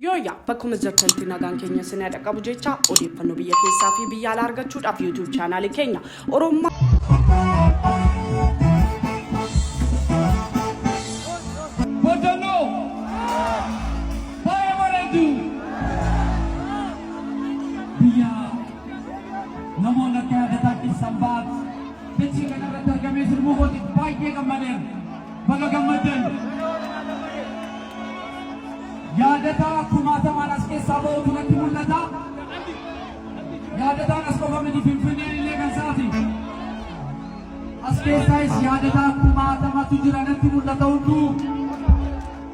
Yooyyaa bakkuma jirtanitti nagaan keenya isin haa dhaqqabu jecha odeeffannoo biyya keessaa fi biyya alaa argachuudhaaf YouTube chaanaalii keenya Oromummaa Baay'ee bareeddu! Biyya namoonni akka yaadataatti Sanbaat dachii kana irratti argamee sirbuu kootiif baay'ee gammadeera. Baga gammaddan! Yaadataa kumaatamaan as keessaa ba'utu natti mul'ata. Yaadataan as qofa miti Finfinneen illee kan isaati. As keessaayis yaadataa kumaatamatu jira natti mul'ata hunduu.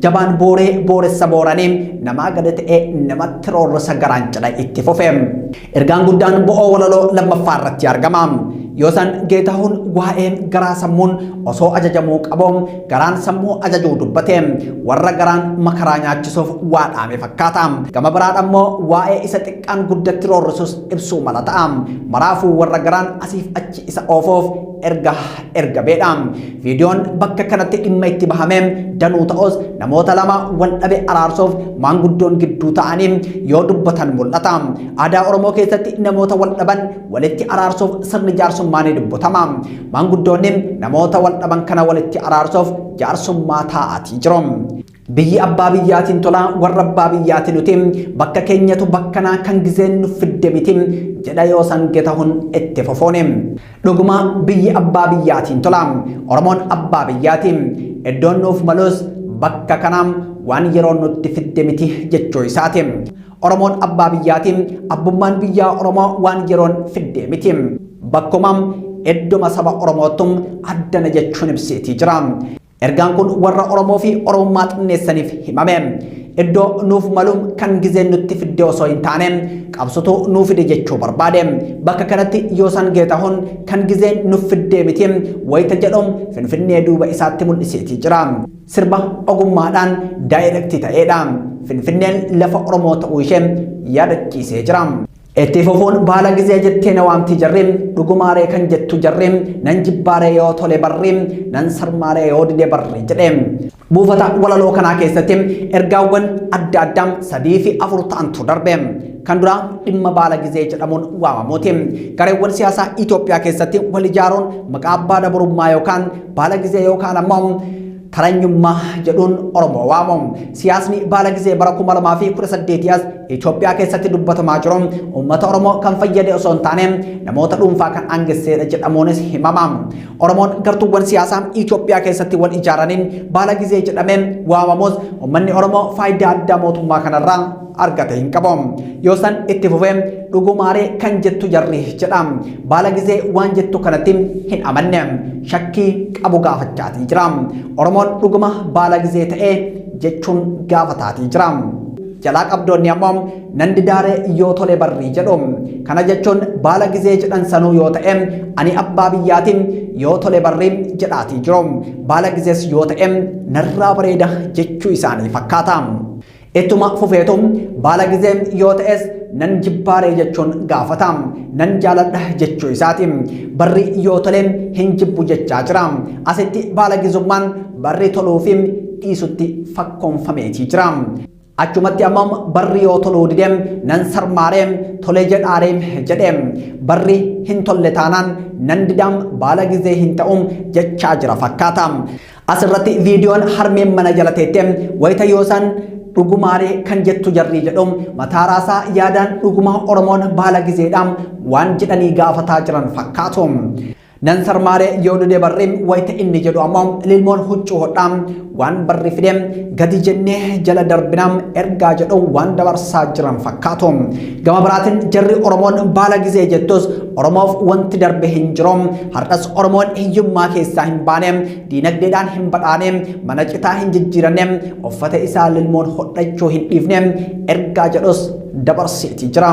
jabaan booree booressa booranii namaa gadi ta'ee namatti roorrisa garaan cidha itti fufe. Ergaan guddaan bo'oo walaloo lammaffaa irratti argama. Yoo san geetahuun waa'ee garaa sammuun osoo ajajamuu qabu garaan sammuu ajajuu dubbate warra garaan makaraa nyaachisuuf waa dhaame fakkaata. Gama biraan ammoo waa'ee isa xiqqaan guddatti roorrisus ibsuu mala ta'a. Maraafuu warra garaan asiif achi isa oofoof erga ergameedha. Viidiyoon bakka kanatti dhimma itti bahame danuu ta'us namoota lama wal dhabe araarsuuf maanguddoon gidduu ta'anii yoo dubbatan mul'ata. Aadaa Oromoo keessatti namoota wal dhaban walitti araarsuuf sirni jaarsummaa ni dubbatama. Maanguddoonni namoota wal dhaban kana walitti araarsuuf jaarsummaa taa'aatii jiru. Biyyi abbaa biyyaatiin tolaa warra abbaa biyyaati nuti bakka keenyatu bakkanaa kan gizeen nu fidde miti jedha yoo san Getahun itti fufuuni. Dhuguma biyyi abbaa biyyaatiin tola. Oromoon abbaa biyyaati. Iddoon nuuf malus bakka kana waan yeroon nutti fidde miti jechuu isaati. Oromoon abbaa biyyaati. Abbummaan biyyaa Oromoo waan yeroon fidde miti. Bakkuma iddoma saba Oromoottu addana jechuun ibseetii jira. Ergaan kun warra Oromoo fi Oromummaa xinneessaniif himame. Iddoo nuuf maluun kan gizeen nutti fidde osoo hin taane qabsotu nuu fide jechuu barbaade. Bakka kanatti Yoosan Geetahun kan gizeen nuuf fiddee miti wayita jedhu Finfinnee duuba isaatti mul'iseetii jira. Sirba ogummaadhaan daayirektii ta'eedha. Finfinneen lafa Oromoo ta'uu ishee yaadachiisee jira. Itti fufuun baala gizee jettee na waamti jarri dhugumaaree kan jettu jarri nan jibbaaree yoo tole barri nan sarmaaree yoo dide barri jedhe. Buufata walaloo kanaa keessatti ergaawwan adda addaa sadii fi afur ta'antu darbe. Kan duraa dhimma baala gizee jedhamuun waamamuuti. Gareewwan siyaasaa Itoophiyaa keessatti wal ijaaruun maqaa abbaa dabarummaa yookaan baala gizee yookaan ammoo Taranyummaa jedhuun Oromoo waamu. Siyaasni baala gizee bara 2018 as Itoophiyaa keessatti dubbatamaa jiru uummata Oromoo kan fayyade osoo hin taane namoota dhuunfaa kan aangesseedha jedhamuunis himama. Oromoon gartuuwwan siyaasaa Itoophiyaa keessatti wal ijaaraniin baala gizee jedhamee waamamus uummanni Oromoo faayidaa addaa mootummaa kanarraa argate hin qabu yoo san itti fufe dhugumaaree kan jettu jarri jedha baala gizee waan jettu kanatti hin amanne shakkii qabu gaafachaatii jira oromoon dhuguma baala gizee ta'ee jechuun gaafataatii jira jalaa qabdoonni ammoo nan didaaree yoo tole barrii jedhu kana jechuun baala gizee jedhan sanuu yoo ta'e ani abbaa biyyaatiin yoo tole barrii jedhaatii jiru baala gizees yoo ta'e narraa bareeda jechuu isaanii fakkaata. Ittuma fufeetu baala gizee yoo ta'es nan jibbaaree jechuun gaafata. Nan jaaladha jechuu isaati. Barri yoo tole hin jibbu jechaa jira. Asitti baala gizummaan barri toluu fi dhiisutti fakkoonfameetii jira. Achumatti ammoo barri yoo toluu dide nan sarmaaree tole jedhaaree jedhe. Barri hin tolle taanaan nan didaam baala gizee hin ta'u jechaa jira fakkaata. As irratti viidiyoon harmeen mana jala teette wayita yoosaan dhugumaalee kan jettu jarrii jedhu mataa raasaa yaadaan dhuguma Oromoon baala gizeedha waan jedhanii gaafataa jiran fakkaatu. Nan sarmaaree yoo dude barri wayita inni jedhu ammoo lilmoon huccuu hodhaa waan barri fide gadi jennee jala darbinaa ergaa jedhu waan dabarsaa jiran fakkaatu. Gama biraatiin jarri Oromoon baala gizee jettus Oromoof wanti darbe hin jiru. Har'as Oromoon hiyyummaa keessaa hin baane, diinagdeedhaan hin badhaane, mana citaa hin jijjiiranne, uffata isaa lilmoon hodhachuu hin dhiifne ergaa jedhus dabarseeti jira.